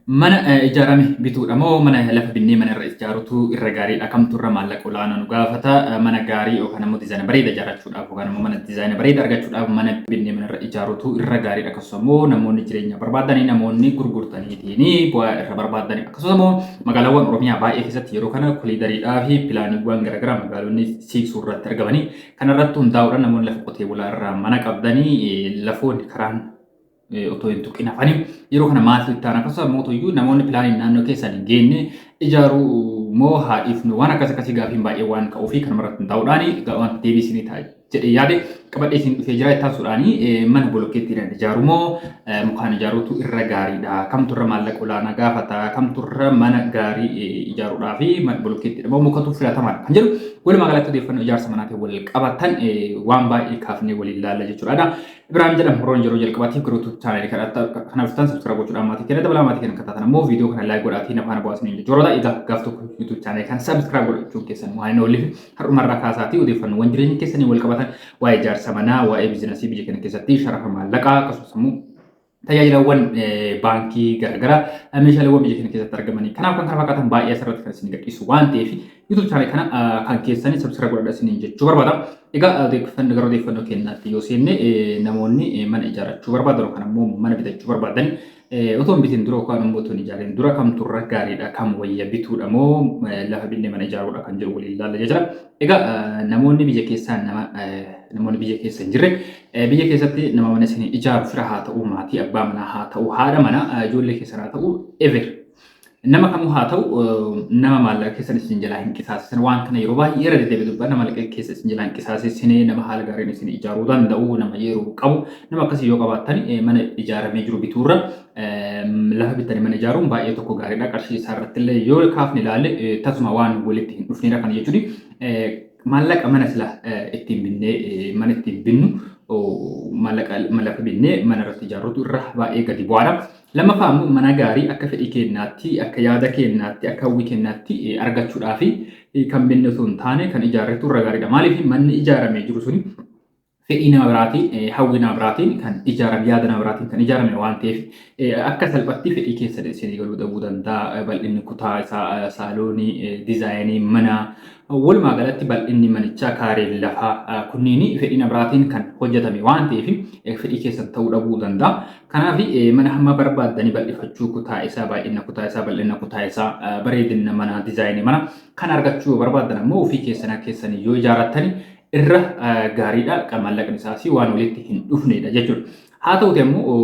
Mana ijaarame bituudha moo mana lafa binnee mana irra ijaarutu irra gaariidha kamtu irra maallaqa olaanaa nu gaafata mana gaarii yookaan ammoo dizaayina bareeda ijaarrachuudhaaf yookaan ammoo mana dizaayina bareeda argachuudhaaf mana binnee mana irra ijaarutu irra gaariidha akkasumas ammoo namoonni jireenya barbaadanii namoonni gurgurtaniitiin bu'aa irra barbaadanii akkasumas ammoo magaalaawwan Oromiyaa baay'ee keessatti yeroo kana koliidariidhaa fi pilaaniiwwan garaagaraa magaalonni siiqsuu irratti argamanii kanarratti hundaa'uudhaan namoonni lafa qotee bulaa irraa mana qabdanii lafoonni karaan otoo hin tuqin hafanii yeroo kana maaltu itti aanaa akkasumas mootoyyuu namoonni pilaaniin naannoo keessan hin geenne ijaaruu moo haa dhiifnu waan akkas akkasii gaafiin baay'ee waan ka'uu fi kan maratti taa'uudhaan waan deebii isinii ta'a jedhee yaade qabadhee isin dhufee jira itti aansuudhaan mana bolokkeettiidhaan ijaaruu moo mukaan ijaaruutu irra gaariidha kamtu irra maallaqa olaanaa gaafata kamtu irra mana gaarii ijaaruudhaa fi mana bolokkeettiidha moo mukatu filatamaadha kan jedhu walumaa galatti odeeffannoo ijaarsa manaatiin wal qabatan waan baay'ee kaafnee waliin ilaalla jechuudha. Ibrahim jedham Horoon yeroo jalqabaatiif garuu tuutu chaanaalii kadhatta kana dhuftan sabskira gochuudhaan maatii keenya dabalaa maatii keenya kattaatan ammoo viidiyoo kana laayik godhaatii nafaana bu'aasin hin jechuudha egaa gaaf tokko yuutuub chaanaalii kan sabskira godhachuun keessan waan hin oolleef har'umarraa kaasaatii odeeffannoowwan jireenya keessanii wal qabatan waa'ee ijaarsa manaa waa'ee biizinasii biyya keenya keessatti sharafa maallaqaa akkasumas immoo tajaajilawwan baankii garaagaraa meeshaaleewwan biyya keenya keessatti argamanii kanaaf kan kana fakkaatan baay'ee asirratti kan isin gadhiisu waan ta'eef YouTube channel kana kan keessanii subscribe godhadha isiniin jechuu barbaada. Egaa odeeffannoo gara odeeffannoo keenyaatti yoo seenne namoonni mana ijaarrachuu barbaadan yookaan ammoo mana bitachuu barbaadan otoo hin bitin dura yookaan immoo otoo hin ijaariin dura kamtu irra gaariidha kam wayya bituudha moo lafa binnee mana ijaaruudha kan jiru waliin ilaalla jira. Egaa namoonni biyya keessaa nama namoonni biyya keessa hin jirre Biyya keessatti nama mana isinii ijaaru fira haa ta'uu maatii abbaa manaa haa ta'uu haadha mana ijoollee keessan haa ta'uu ever nama kamuu haa ta'u nama maallaqa keessan isin jalaa hin qisaasisan waan kana yeroo baay'ee irra deddeebi'ee dubbanna maallaqa keessa isin jalaa hin qisaasisine nama haala gaariin isin ijaaruu danda'u nama yeroo qabu nama akkasii yoo qabaattan mana ijaaramee jiru bituurra lafa bitanii mana ijaaruun baay'ee tokko gaariidha qarshii isaa irratti illee yoo kaafne ilaalle tasuma waan walitti hin dhufneedha kana jechuudha. Maallaqa mana sila ittiin binnee mana ittiin binnu maallaqa lafa binnee mana irratti ijaarrutu irra baay'ee gadi bu'aadha. Lammaffaa immoo mana gaarii akka fedhii keenyaatti, akka yaada keenyaatti, akka hawwii keenyaatti argachuudhaaf kan binne osoo hin taane kan ijaarretu irra gaariidha. Maaliif manni ijaaramee jiru suni fedhii nama biraatiin, hawwii nama biraatiin kan ijaarame, yaada nama biraatiin kan ijaarame waan ta'eef akka salphatti fedhii keessan isinii galuu dhabuu danda'a. Bal'inni kutaa isaa, saaloonii, dizaayinii manaa, walumaa galatti bal'inni manichaa, kaareen lafaa kunniin fedhii nama biraatiin kan hojjetame waan ta'eef fedhii keessan ta'uu dhabuu danda'a. Kanaaf mana hamma barbaaddanii bal'ifachuu kutaa isaa, baay'ina kutaa isaa, bal'ina kutaa isaa, bareedina manaa, dizaayinii manaa kan argachuu barbaaddan ammoo ofii keessan keessan yoo ijaarrattani irra gaariidha. Maallaqni isaas waan walitti hin dhufneedha jechuudha. Haa ta'uti ammoo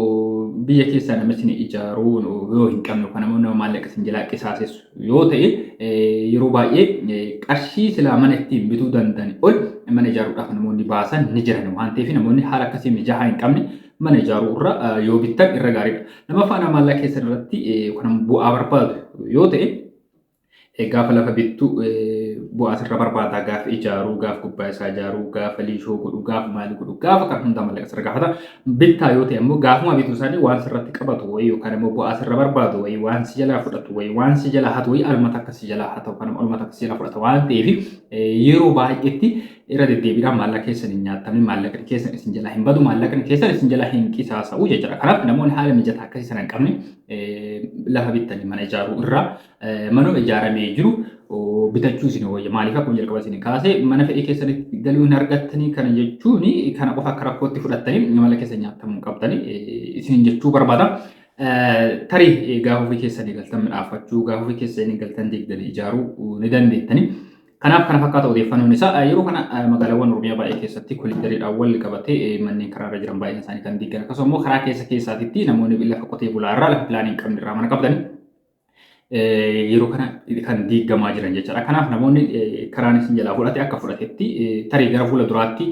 biyya keessaa namichi ijaaruu yoo hin qabne yookaan ammoo nama maallaqa isin jalaa qisaasessu yoo ta'e yeroo baay'ee qarshii silaa mana ittiin bituu danda'an ol mana ijaaruudhaaf namoonni baasan ni jiran waan ta'eef namoonni haala akkasii mijaa'aa hin qabne mana ijaaruu irra yoo bittan irra gaariidha. Lamaffaa nama maallaqa keessan irratti yookaan bu'aa barbaadu yoo ta'e Gaafa lafa bittu bu'aa sirra barbaada gaafa ijaaruu gaafa gubbaa isaa ijaaruu gaafa liishoo godhu gaafa maali godhu gaafa kan hundaa mallaqa sirra gaafata bittaa yoo ta'e ammoo gaafuma bituu isaanii waan sirratti qabatu wayii yookaan ammoo bu'aa sirra barbaadu wayii waan si jalaa fudhatu wayii waan si jalaa hatu wayii almata akka si jalaa hata yookaan ammoo almata akka si jalaa fudhata waan ta'eef yeroo baay'eetti irra deddeebiidhaan maallaqa keessan hin nyaatamne maallaqni keessan isin jalaa hin badu maallaqni keessan isin jalaa hin qisaasa'u jechuudha kanaaf namoonni haala mijataa akkasii sana hin qabne lafa bittanii mana ijaaruu irraa Manuma ijaaramee jiru bitachuu isin wayya. Maaliif akkuma jalqaba isin kaase mana fedhii keessanitti galuu hin argattanii kana jechuun kana qofa akka rakkootti fudhattanii mala keessa nyaatamuu qabdanii isin jechuu barbaada. Tarii gaafa ofii keessanii galtan midhaafachuu gaafa ofii keessanii galtan deegdanii ijaaruu ni dandeettanii. Kanaaf kana fakkaata odeeffannoon isaa yeroo kana magaalaawwan Oromiyaa baay'ee keessatti koliidariidhaan wal qabatee manneen karaarra jiran baay'een isaanii kan diigan akkasumas immoo karaa keessa keessaatitti namoonni lafa qotee bulaa irraa lafa pilaanii hin qabne irraa mana qabdanii yeroo kana kan diigamaa jiran jechaadha. Kanaaf namoonni karaan isin jalaa fudhate akka fudhatetti tarii gara fuula duraatti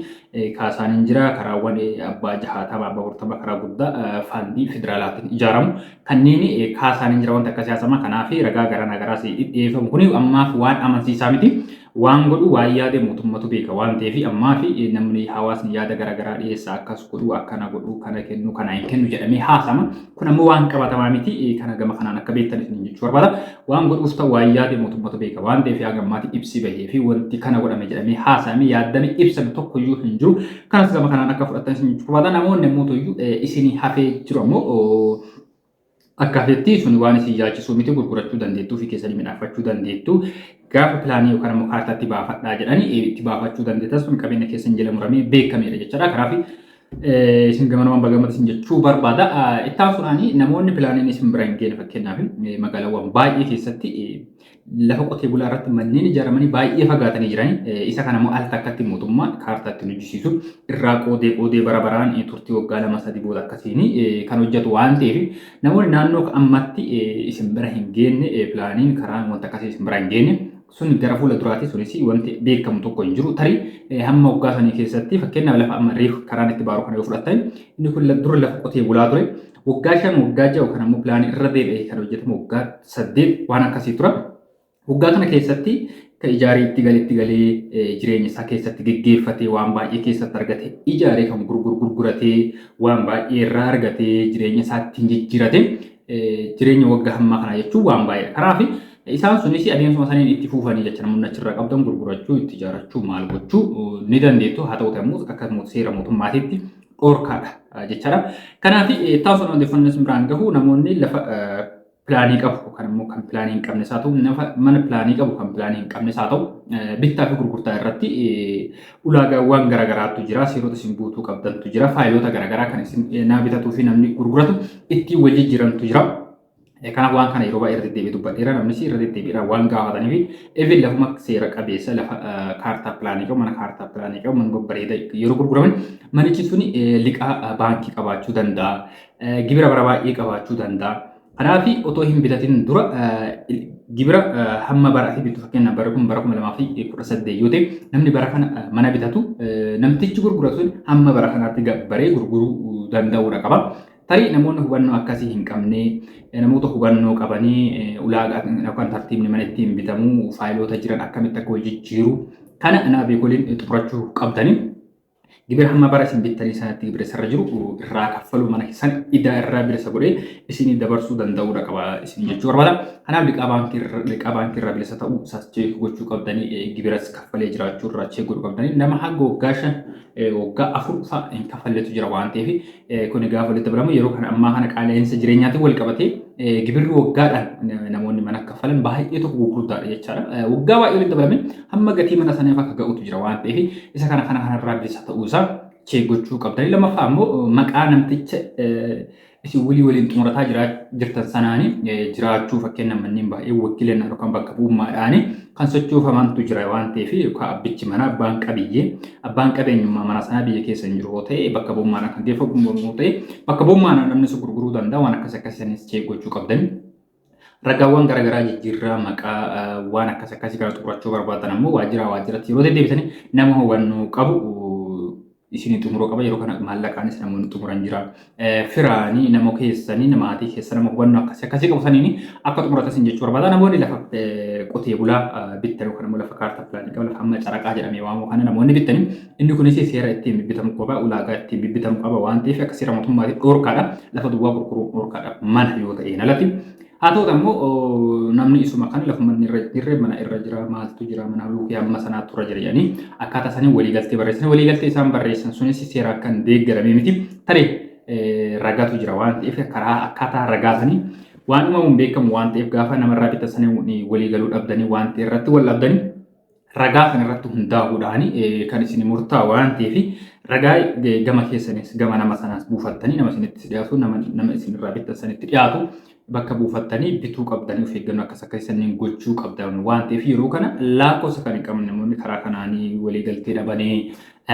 kaasaan hin jira karaawwan abbaa jahaatama abbaa afurtama karaa guddaa faandii federaalaatiin ijaaramu kanneen kaasaan hin jira wanta akka siyaasama kanaaf ragaa gara nagaraas dhiyeeffamu kun ammaaf waan amansiisaa miti. Waan godhu waan yaade mootummatu beeka waan ta'eefi ammaafi namni hawaasni yaada garaagaraa dhiyeessa akkas godhu akkana godhu kana kennu kana hin kennu jedhamee haasama kun ammoo waan qabatamaa miti kana gama kanaan akka beektan isin jechuu barbaada waan godhuus ta'u waan yaade mootummatu beeka waan ta'eefi haga ammaati ibsi bahee fi wanti kana godhame jedhamee haasame yaaddame ibsame tokkoyyuu hin jiru kanas gama kanaan akka fudhattan isin jechuu barbaada namoonni ammoo toyyuu isinii hafee jiru ammoo Akka feetti sun waan isin yaachisuu miti gurgurachuu dandeettu ofii keessanii midhaafachuu dandeettu gaafa pilaanii yookaan ammoo kaartaatti baafadhaa jedhanii itti baafachuu dandeettan sun qabeenya keessan jala muramee beekameera jechaadha. Kanaaf isin gamanamaan bagamata isin jechuu barbaada. Ittaan sunaanii namoonni pilaaniin isin bira hin geene fakkeenyaaf magaalawwan baay'ee keessatti lafa qotee bulaa irratti manneen ijaaramanii baay'ee fagaatanii jiran isa kana immoo al takkatti mootummaan kaartaa ittiin hojjisiisu irraa qoodee qoodee bara baraan turtii waggaa lama sadii booda akkasiin kan hojjetu waan ta'eef namoonni naannoo ammatti isin bira hin geenne pilaaniin karaan wanta akkasii isin bira hin geenne sun gara fuula duraati sunis wanti beekamu tokko hin jiru tarii hamma waggaa sanii keessatti fakkeenyaaf lafa amma reef karaan itti baaru kana yoo fudhattan inni kun dura lafa qotee bulaa ture Waggaa shan, waggaa ja'a yookaan ammoo pilaanii irra deebi'ee kan hojjetamu waggaa saddeet waan akkasii tura. Waggaa kana keessatti kan ijaaree itti galee itti galee jireenya isaa keessatti geggeeffatee waan baay'ee keessatti argate ijaaree kan gurguru gurguratee waan baay'ee irraa argatee jireenya isaa ittiin jijjiirate jireenya waggaa hammaa kana jechuun waan baay'ee kanaaf isaan sunis adeemsuma saniin itti fuufanii jecha namoonni achirraa qabdan gurgurachuu itti ijaarachuu maal gochuu ni dandeettu haa ta'uti ammoo akka seera mootummaatiitti dhorkaadha jechaadha. Kanaaf taasifama odeeffannoo isin biraan gahu namoonni lafa pilaanii qabu kan immoo kan pilaanii hin qabne isaa ta'u mana pilaanii qabu kan pilaanii hin qabne isaa ta'u bittaa fi gurgurtaa irratti ulaagaawwan garaagaraatu jira seerota isin guutuu qabdantu jira faayiloota garaagaraa kan isin naa bitatuu fi namni gurguratu ittiin wal jijjiirantu jira. Kanaaf waan kana yeroo baay'ee irra deddeebi'ee dubbadheera namnis irra deddeebi'eedhaan waan gaafataniif even lafuma seera qabeessa lafa kaartaa pilaanii qabu mana kaartaa pilaanii qabu mana babbareeda yeroo gurguraman manichi sun liqaa baankii qabaachuu danda'a gibira bara baay'ee qabaachuu danda'a. Kanaaf otoo hin bitatin dura gibira hamma bara ati bittu fakkeenyaaf bara kun bara kuma lamaa fi kudha saddeet yoo ta'e namni bara kana mana bitatu namtichi gurguratu hamma bara kanaatti gabbaree gurguruu danda'uudha qaba. Tarii namoonni hubannoo akkasii hin qabne namoota hubannoo qabanii ulaagaa yookaan tartiibni mana ittiin bitamu faayiloota jiran akkamitti akka wal jijjiiru kana nama beekoliin xumurachuu qabdanii gibira hamma bara isin bittanii sanatti gibira isarra jiru irraa kaffaluu mana keessan idaa irraa bilisa godhee isinii dabarsuu danda'uudha qaba isin jechuu barbaada. Kanaaf liqaa baankii irra- liqaa baankii irraa bilisa ta'uu isaas cheek gochuu qabdanii eh, gibiras kaffalee jiraachuu irraa cheek godhuu qabdanii nama hanga waggaa shan eh, waggaa afur fa'a hin kaffalletu jira waan ta'eef Kuni gaafa walitti dabalamu yeroo kana ammaa kana qaala'insa jireenyaatiin wal qabatee gibirri waggaadhaan namoonni mana kaffalan baay'ee tokko gurgurtaadha jechaadha. Waggaa baay'ee walitti dabalame hamma gatii mana saniif akka ga'utu jira waan ta'eef isa kana kana kanarraa bilisa ta'uu isaa chee gochuu qabdanii lammaffaa immoo maqaa namticha isin walii waliin xumurataa jirtan sanaanii jiraachuu fakkeenya manneen baay'ee wakiilannaa yookaan bakka bu'ummaadhaanii kan sochoofamantu jira waan ta'eef yookaan abbichi manaa abbaan qabiyyee abbaan qabeenyummaa mana sanaa biyya keessa hin jiru yoo ta'e bakka bu'ummaan akka geeffamu yoo ta'e bakka bu'ummaan namni sun gurguruu danda'a waan akkas akkasii sanis cheek gochuu qabdanii. Ragaawwan garaagaraa jijjiirraa maqaa waan akkas akkasii kana xumurachuu barbaadan ammoo waajjiraa waajjiratti yeroo deddeebisanii nama hubannoo qabu isinii xumuruu qaba yeroo kana maallaqaanis namoonni xumuran jira firaani namo keessaniin maatii keessa nama hubannoo akkasii akkasii qabu saniin akka xumuratan sin jechuu barbaada namoonni lafa qotee bulaa bittan yookaan immoo lafa kaartaa pilaanii qabu lafa amma caraqaa jedhamee waamu kana namoonni bittanii inni kunis seera ittiin bibbitamu qaba ulaagaa ittiin bibbitamu qaba waan ta'eef akka seera mootummaatti dhorkaadha lafa duwwaa gurguruun dhorkaadha mana yoo ta'een alatti Haa ta'uuti ammoo namni isuma kan lafuma inni irra jirre mana irra jira maaltu jira mana luukii amma sanaa tura jira jedhanii akkaataa isaanii waliigaltee barreessan waliigaltee isaan barreessan sunis seera akka hin deeggaramee miti tarii ragatu jira waan ta'eef karaa akkaataa ragaa sanii waan uumamuun beekamu waan ta'eef gaafa namarraa bitasanii waliigaluu dhabdanii waan ta'e irratti wal dhabdanii ragaa kan irratti hundaa'uudhaan kan isin murtaa waan ta'eef ragaa gama keessanis gama nama sanaas buufattanii nama isinitti dhiyaatu nama isinirraa bittan sanitti dhiyaatu bakka buufattanii bituu qabdanii of eeggannoo akkas akka isaniin gochuu qabdan waan ta'eef yeroo kana lakkoofsa kan hin qabne namoonni karaa kanaanii walii galtee dhabanii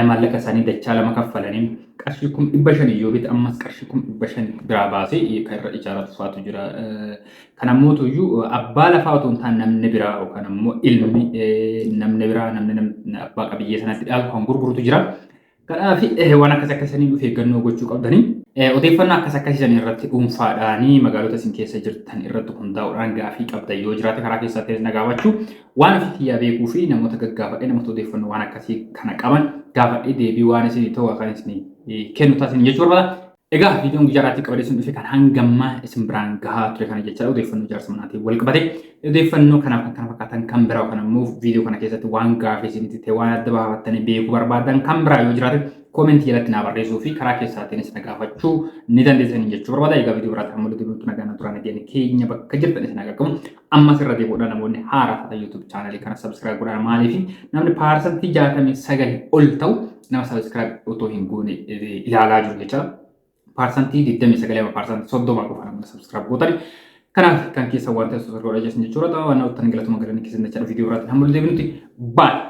maallaqa isaanii dachaa lama kaffalanii qarshii kum dhibba shanii yoo bita ammas qarshii kum dhibba shan biraa baasee kan irra ijaaratu faatu jira. Kana mootu iyyuu abbaa lafaa otoo hin taane namni biraa yookaan ammoo ilmi namni biraa namni abbaa qabiyyee sanatti dhaalu kan gurgurutu jira. Kanaaf waan akkas akkasanii of eeggannoo gochuu qabdanii. Odeeffannoo akkas akkasiisan irratti dhuunfaadhaanii magaalota isin keessa jirtan irratti hundaa'uudhaan gaafii qabda yoo jiraate karaa keessaa ta'es na gaafachuu waan ofii kiyyaa beekuu fi namoota gaggaafadhe namoota odeeffannoo waan akkasii kana qaban gaafadhe deebii waan isin ta'u kan isin kennu taasisan jechuu barbaada. Egaa viidiyoon guyyaa irraatti qabadee sun dhufe kan hangamma isin biraan gahaa ture kana jecha odeeffannoo jaarsa manaatiin wal qabate odeeffannoo kanaaf kan kana fakkaatan kan biraa kan ammoo viidiyoo kana keessatti waan gaafii isinitti ta'e waan adda baafattanii beekuu barbaadan kan biraa yoo jiraate koomentii jalatti naa barreessuu fi karaa keessaatiinis na gaafachuu ni dandeessan jechuu barbaada. Egaa viidiyoo biraatti amma walitti deebi'utti nagaan turaa nageenya keenya bakka jirtan isin haa qaqqabu. Ammas irra deebi'uudhaan namoonni haaraa taatan YouTube channel kana subscribe godhaa maaliif namni paarsantii 69 ol ta'u nama subscribe otoo hin goone eh, ilaalaa jiru jecha paarsantii 29 amma paarsantii 30 qofa namni subscribe gootani. Kanaaf kan keessa waan ta'e subscribe godhaa jechuudha. Waan ta'u tan galatuma galanni keessan jecha viidiyoo irratti hamma deebinutti baay'ee.